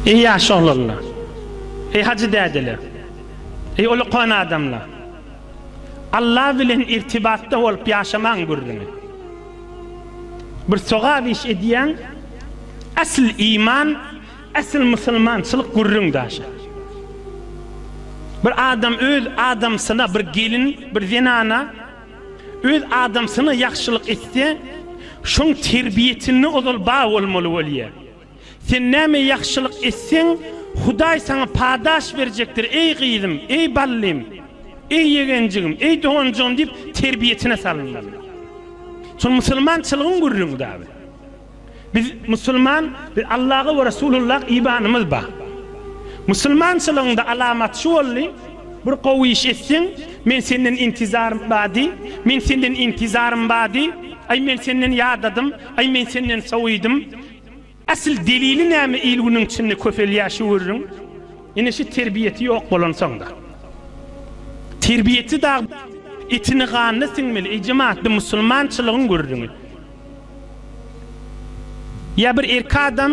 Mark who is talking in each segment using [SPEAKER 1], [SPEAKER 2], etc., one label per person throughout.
[SPEAKER 1] Eý ýaş oglanlar! Eý hajy dädeler! Eý ulukan adamlar! Alla bilen irtibatda bolup ýaşamaň gürrüňi. Bir sogap iş edýäň, äsl iman, äsl musulmançylyk gürrüň daşa. Bir adam öz adamsyna, bir gelin, bir zenana, Öz adamsyna ýagşylyk etse, şoň terbiýesinde ozal bar bolmaly bolýar. Sen näme ýagşylyk etseň, Hudaý saňa padaş berjekdir, eý gyzym, eý ballym, eý ýegenjigim, eý doganjygym diýip terbiýesine salynmaly. Şol musulmançylygyň gürrüňi dagy. Biz musulman, biz Allaha we Resulullah ibanymyz bar. Musulmançylygyňda alamat şu boldy, bir gowy iş etseň, men senden intizarym bar diý, men senden intizarym bar diý, aý men senden ýadadym, aý men senden sowidim. Asyl delili näme il-günüň içinde köpelýär şu gürrüň. Ine şu terbiýesi ýok bolansoňda. Terbiýesi dagy etini-ganyna siňmeli, ejem atly musulmançylygyň gürrüňi. Ýa bir erkek adam,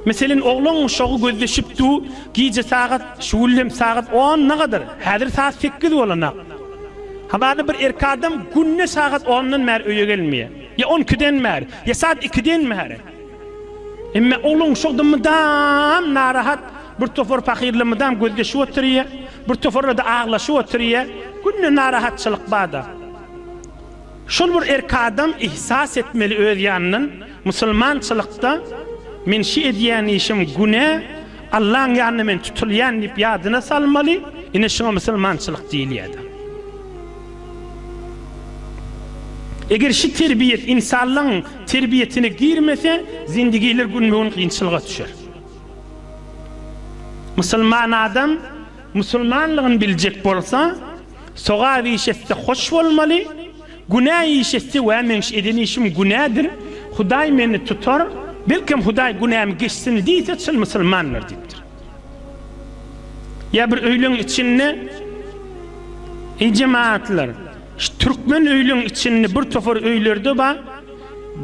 [SPEAKER 1] meselen, oglan uşagy gözleşip dur, gije sagat, şu gün hem sagat on nagadar, häzir sagat sekiz bolanak. Hamana bir erkek adam günde sagat ondan bäri öýe gelmeýär. Ýa on ikiden bäri, ýa sagat ikiden bäri. Emma oglan uşakda mydam narahat, bir topar pahyrla mydam gözleşip oturýar, bir toparla-da aglaşyp oturýar. Günde narahatçylyk bar-da. Şol bir erki adam ihsas etmeli öz ýanyndan, musulmançylykda men şi edýän işim günä, Allaň ýanynda men tutulýan diýip ýadyna salmaly, ine şuňa musulmançylyk diýilýäda. Eger şi terbiýet insanlygyň terbiýetine girmese, zindigiler günbe-gün kynçylyga düşer. Musulman adam Musulmanlygyny biljek bolsa, sogap iş etse hoş bolmaly, günä iş etse wä meň eden işim günädir, Hudaý meni tutar, belkem Hudaý günämi geçsin diýse çyn musulmandyr diýipdir. Ýa bir öýleň içinde Eý jemagatlar, şu türkmen öýleň içinde bir topar öýlerde bar,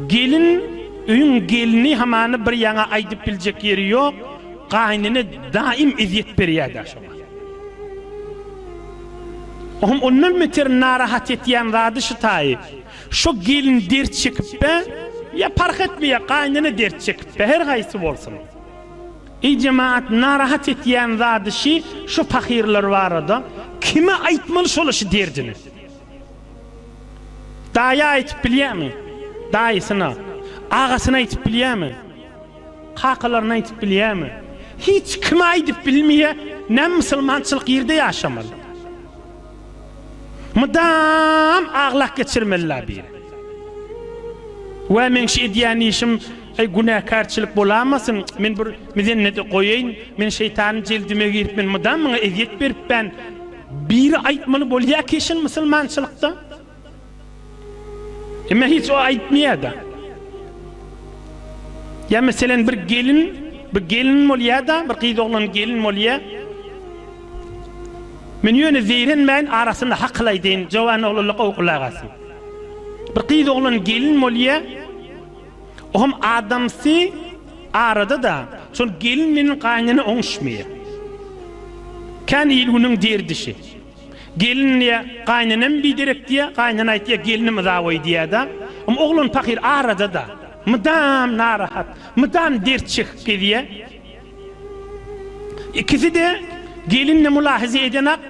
[SPEAKER 1] gelin öýüň gelini hamany bir ýaňa aýdyp biljek ýeri ýok, Gaýnene daýym ezýet berýädä şoňa. Ohm ondan beter narahat etýän zady şu taýy. Şo gelin dert çekipbe, ýa parh etmeýär, gaýnene dert çekipbe, her haýsy bolsun. Eý jemaat narahat etýän zady şi şu pahyrlar barada kime aýtmaly şola şu derdini. Daýa aýtyp bilýämi? Daýysyna. Agasyna aýtyp bilýämi? Kakalaryna aýdyp bilýämi? Hiç kime aýdyp bilmeýä, näme musulmançylyk ýerde ýaşamaly. Mydam aglak geçirmeli la bir. Wä meň şu edýän işim eý günäkärçilik bolamasyn, men bir mizennede goýaýyn, men şeýtanyň jeldime girip men mydam muňa ezýet beripän, biri aýtmaly bolýa keşin musulmançylykda. Emma hiç o aýtmaýar-da. Ýa meselen bir gelin, bir gelin bolýar-da, bir gyz oglan gelin bolýar. Men ýöne zeýrenmäýin arasynda hakyl aýdaýyn, jowan oglanlar gowy gulak asyn. Bir gyz oglan gelin bolýar. O hem adamsy arada-da, şol gelin bilen gaýynene oňuşmaýar. Kän il-günüň derdişi. Gelin diýýä, Gaýnenem biderek diýýä, gaýnene aýtýa, Gelinim yzaboý diýýä-de. Ym oglan pahyr arada-da. Mydam narahat, mydam dert çekip gezýä. Ikisi-de, gelin-de mylahaza edenak,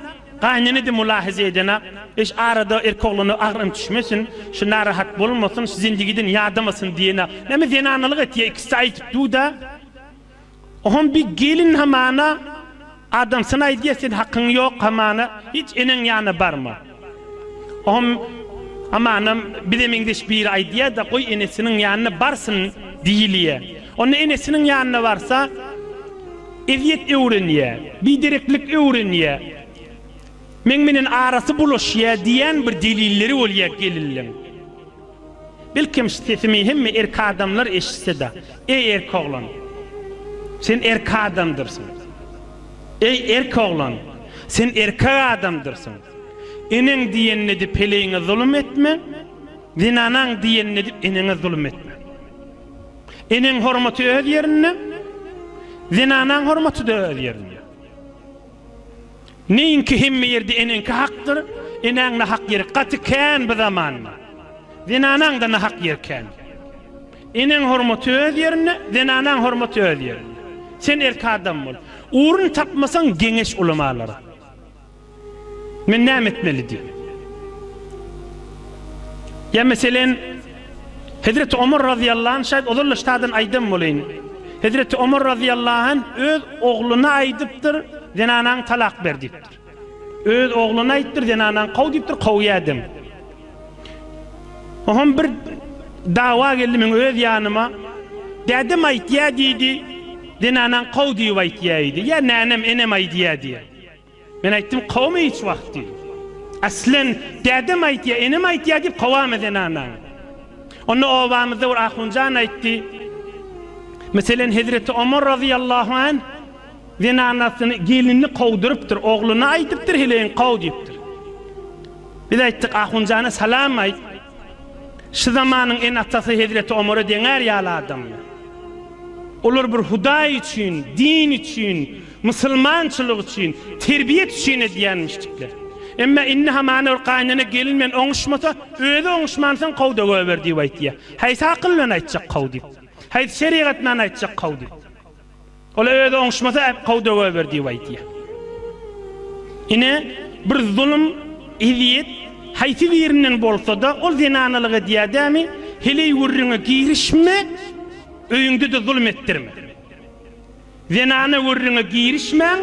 [SPEAKER 1] gaýnene-de mylahaza edenak. Eş, arada erkek oglana agyrym düşmesin, şu narahat bolmasyn, şu zendigiden ýadamasyn diýenak. Näme zenanalyk etýä, ikisi-de aýdyp dur-da. Oham bir gelin hamana adamsyny aýdýa sen hakyň ýok hamana hiç eneň ýana barma. Oham amanam bize meňzeş biri aýdýada goý enesiniň ýanyna barsyn diýilýä. Onda enesiniň ýanyna barsa ezýet öwrenýä, bidereklik öwrenýä. Meň menen arasy bulaşýa diýän bir delilleri bolýa gelinliň. Belkem sesimi hemme erk adamlar eşitseda. Eý erk oglan. Sen erk adamdyrsyň. Eý erk oglan. Sen erkek adamdyrsyň. Eneň diýenini edip heleýiňe zulum etme. Zenanaň diýenini edip eneňe zulum etme. Eneň hormaty öz ýerinde. Zenanaň hormatyda öz ýerinde. Neýinki hemme ýerde eneňki hakdyr, enäň nahak ýeri gaty kän bu zamanda. Zenanaň-da nahak ýeri kän. Eneň hormaty öz ýerinde, zenanaň hormaty öz ýerinde. Sen erki adam bol. Urun tapmasaň geňeş ulamalara. Men näme etmeli diýip. Ýa meselen. Hezreti Omar razyýallahu anh şaýt ozal-da ştadan aýdan boleýin. Hezreti Omar razyýallahu anh öz ogluna aýdypdyr, Zenanaňy talak ber diýipdir. Öz ogluna aýtdyr, Zenanaňy kow diýipdir, kowýädem. Oham bir dawa geldi meň öz ýanyma. Dädem aýtýa diýdi, Zenanaňy kow diýip aýtýa-eýdi. Ýa nänem, enem aýdýa diýýä. Men aýtdym, Kowma hiç wagt diýdim. Aslen, dädem aýtýar, enem aýtýar diýip kowama zenanaňy. Onda obamyzda bir ahunjan aýtdy, Meselen, hezreti Omar razyýallahu anh zenanasyny, gelinini kowdurypdyr, ogluna aýdypdyr, heleýiň kow diýipdir. Biz aýtdyk, Ahunjana salam aýt. Şu zamanyň ene-atasy hezreti Omara deňär ýaly adamlar. Olar bir Hudaý üçin, din üçin Musulmançylyk üçin, terbiýet üçin edýänmişdikler. Emma indi hamana bir gaýynene gelin bilen oňuşmasa, özi oňuşmansoň kow-da goýber diýip aýtýar. Haýsy akyl bilen aýtjak kow diýip? Haýsy şerigat bilen aýtjak kow diýip? Ol-a özi oňuşmasa, kow-da goýber diýip aýtýar. Ine, bir zulum, ezýet haýsy birinden bolsa-da, ol zenanalyk edýär dämi, heleý gürrüňe girişme, öýüňde-de zulum etdirme. Zenana gürrüňe girişmäň,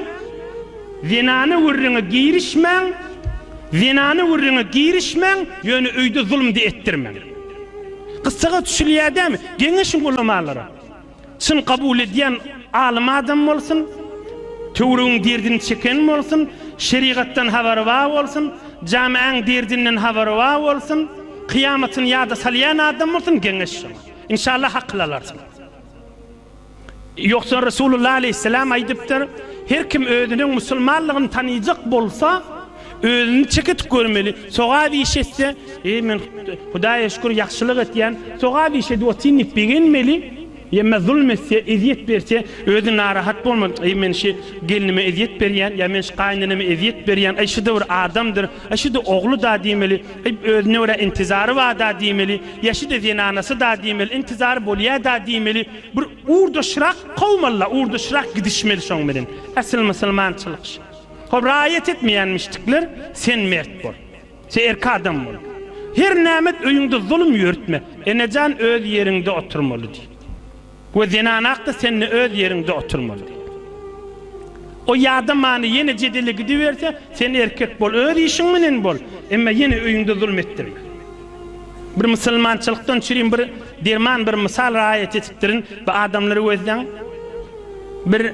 [SPEAKER 1] zenana gürrüňe girişmäň, zenana gürrüňe girişmäň, ýöne öýde zulumdy etdirmäň. Gyssaga düşülýär dämi? Geňeşiň ulamalara. Çyn kabul edýän alym adam bolsun, töwregiň derdini çeken bolsun, şerigatdan habary bar bolsun, jamaäň derdinden habary bar bolsun, kyýamatyny ýada salýan adam bolsun, geňeş şoňa. Inşallah akyl alarsyň. Ýogsa Resulullah aleýhissalam aýdypdyr, Her kim özüniň musulmanlygyny tanaýjak bolsa, özüni çeketik görmeli, sogap iş etse, Eý, men Hudaýa şükür, ýagşylyk etýän, sogap iş edip otyryn diýip begenmeli, ýa-da zulum etse, ezýet berse, özi narahat bolmaly, Eý, men şu gelnime ezýet berýän, ýa men şu gaýyneneme ezýet berýän, eý, şu-da bir adamdyr, eý, şu-da ogly-da diýmeli. Ib özüne görä intizary barda diýmeli, ýaşyda zenanasy-da diýmeli, intizary bolýa-da diýmeli, bir urdaşrak kowmaly-la, urdaşrak gidişmeli şoň bilen. Asyl musulmançylyk şu. Hop raýat etmeýänmişdikler, sen mert bol. Sen erk adam bol. Her nämet öýüňde zulum ýörütme. Enejan öz ýeriňde oturmaly diýip. We zenanakda sende öz ýeriňde oturmaly diýip. O ýada many ýene jedele gidiberse, sen erkek bol, öz işiň menen bol, emma ýene öýüňde zulm etdirme. Bir musulmançylykdan çürin bir derman bir mysal raýat etipdirin, bu adamlary gözleň. Bir.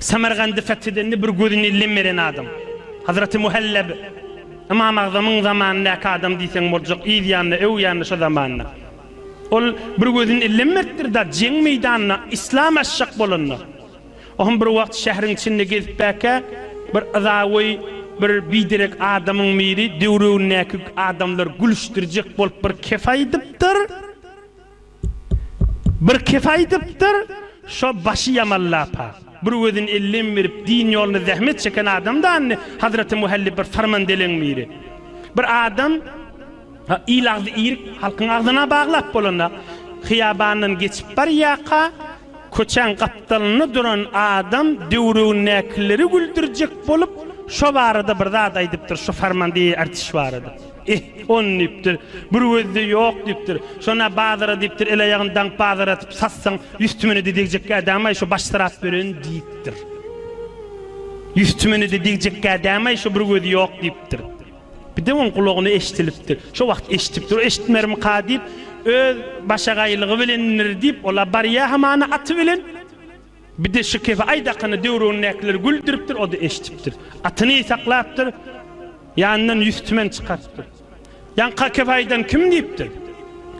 [SPEAKER 1] Samargandy fethedende bir gözüne lem beren adam. Hazraty Muhallab Ymam Agzamyň zamanyndaky adam diýseň boljak, yz ýanynda, öw ýanynda şo zamanlar. Ol bir gözüne lem beripdir da, jeň meýdanyna yslam açjak bolanda. O hem bir wagt şähriň içinde gezipbäkä, bir yzagoý bir biderek adamyň biri döwrebindäki adamlary gülüşdirjek bolup bir kep aýdypdyr. Bir kesi aýdypdyr, Şo başy ýaman lapa, bir gözüni ellem berip, din ýolunda zähmet çeken adam dany, Hazreti Muhallib bir sarman deleň biri. Bir adam il agzy irik halkyň agzyna baglap bolanda, hyýabandan geçip barýarka, Köçäň gapdalynda duran adam döwregindäkileri güldürjek bolup, şo barada bir zat aýdypdyr, şu Farmandiýe artiş barada. Ih, on diýipdir, bir gözde ýok diýipdir. Şon-a bazara diýipdir, el-aýagyny daňyp bazar atyp satsaň, ýüz tümene-de degjekkä dämaý, şo baş syrap beren diýipdir. Ýüz tümene-de degjekkä dämaý, şo bir gözi ýok diýipdir. Birden oň gulagyna eşdilipdi. Şo wagt eşdipdir, eşitmermika diýip, öz başagaýlygy bilendir diýip, ol-a barýa hamana aty bilen. Bir-de şu kefe aýdakyny döwründäkileri güldüripdir, o-da eşdipdir. Atyny saklapdyr, ýanyndan ýüz tümen çykarypdyr. Ýaňka kefe aýdan kim diýipdir.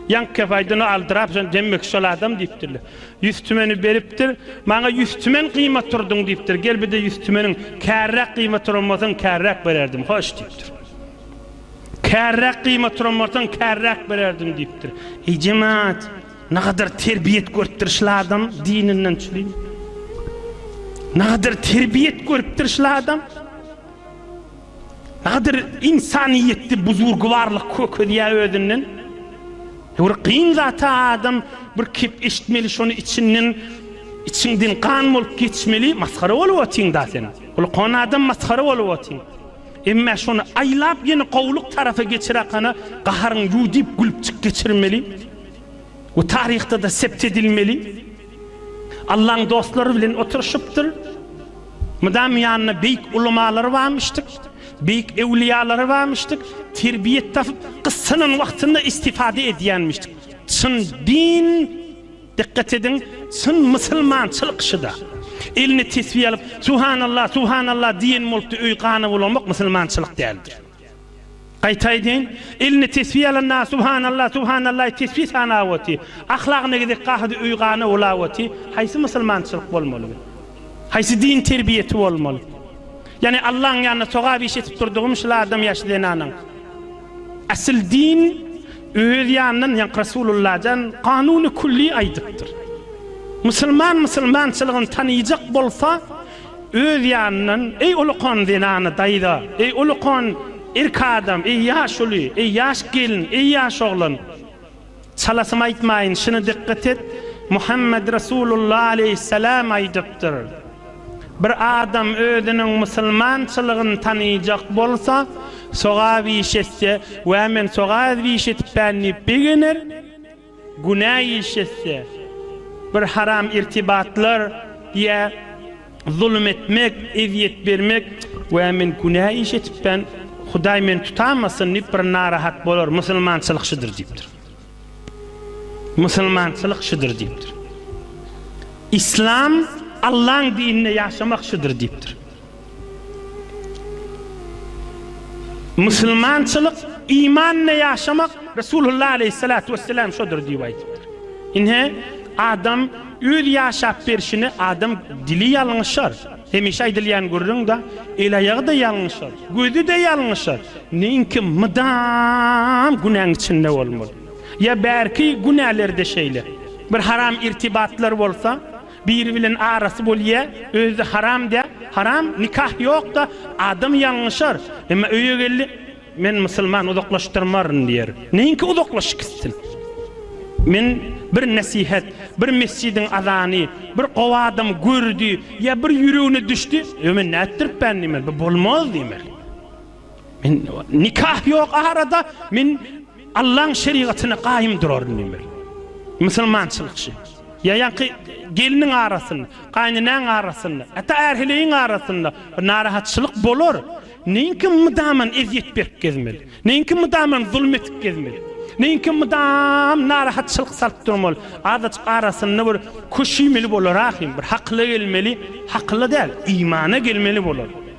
[SPEAKER 1] Ýaňky kefe aýdan o aldyrap, şony demmek şol adam diýipdirler. Ýüz tümeni beripdir. Maňa ýüz tümen gyýma turduň diýipdir. Gel bir-de ýüz tümeniň kärräk gyýma turan bolsaň kärräk bererdim. Hoş diýipdir. Kärräk gyýma turan bolsaň kärräk bererdim diýipdir. Eý jemaat, nagadar terbiýet görüpdir şul adam dininden çülim. Nagadar terbiýet görüpdir şul adam. Gadyr ynsanyýetdi buzurgybarlyk kökezýär özünden. Ýöwr gyn zata adam bir kep eşitmeli şony içinden içiňden gan bolup geçmeli masgara bolup otyň da sen. Gulkon adam masgara bolup otyň. Emme şony aýlap ýene gowulyk tarapa geçirakana gaharyň ýu diýip gülüpjik geçirmeli we taryhda da sept edilmeli. Allaň dostlary bilen oturyşypdyr. Mydam ýanynda beýik ulamalary barmyşdyk, beýik ewliýalary barmyşdyk. Terbiýe tapyp, gyssanan wagtynda istifade edýänmişdik. Çyn din, dikkat ediň, çyn musulmançylyk şuda. Eline tesbi alyp, Subhanallah, Subhanallah diýen bolupdy, öý gana bulamak musulmançylyk däldir. Gaýta aýdaýyn, eline tesbi alan na subhanalla, subhanallaý tesbi sanap oty, ahlagyna gezek gahydy öý gana bulap oty, haýsy musulmançylyk bolmaly bu? Haýsy din terbiýesi bolmaly? Ýani Allaň ýanynda sogap iş etip durdygym şul adam ýaşy zenanaň. Asyl din öz ýanyndan ýank Rasulullajan kanuny kulli aýdypdyr. Musulman musulmançylygyny tanyjak bolsa Öz ýanyndan, Eý, ulukan zenany daýza, eý, ulukan erk adam, eý, ýaş uly, eý, ýaş gelin, eý, ýaş oglan! Çalasym aýtmaýyn, şuny dykgat et, Muhammet Resulullah aleýhissalam aýdypdyr, Bir adam özüniň musulmançylygyny tanaýjak bolsa, sogap iş etse, Wä, men sogap iş etipän diýip begener, Günä iş etse, bir haram irtibatlar ýa zulum etmek, ezýet bermek, Wä, men günä iş etipdän, Hudaý meni tutamasyn diýip bir narahat bolar, musulmançylyk şudur diýipdir. Musulmançylyk şudur diýipdir. Yslam, Allaň dininde ýaşamak şudur diýipdir. Musulmançylyk imanla ýaşamak Resulullah aleýhissalatu wesselam şodur diýip aýdypdyr. Ine, adam öz ýaşap berşini adam dili ýalňyşar. Hemişe aýdylýan gürrüň-de, el-aýagy-da ýalňyşar, gözi-de ýalňyşar. Neýinki mydam günäň içinde bolmaly. Ýa bärki günäler-de şeýle. Bir haram irtibatlar bolsa, Biri bilen arasy bolýa özde haram dä haram nikah ýokda adam ýalňyşar emma öýe geldi men musulman uzaklaşdyrmaryn diýer neýinki uzaklaşyk gitsin men bir nesihet bir mesjidiň azany bir gowy adam gördi ýa bir ýüregine düşdi ýo men nätdiripän diýmeli bu bolmaz diýmeli. Men nikah ýok arada men Allaň şerigatyna gaýym duraryn diýmeli. Musulmançylyk şi. Ýa ýaňky gelniň arasynda, gaýynenäň arasynda, hatda ärheleýiň arasynda bir narahatçylyk bolar. Neýinki mydaman ezýet berip gezmeli? Neýinki mydaman zulum edip gezmeli? Neýinki mydam narahatçylyk salyp durmaly? Azajyk arasynda bir köşüýmeli bolar ahym, bir hakyla gelmeli, hakyla däl, imana gelmeli bolar.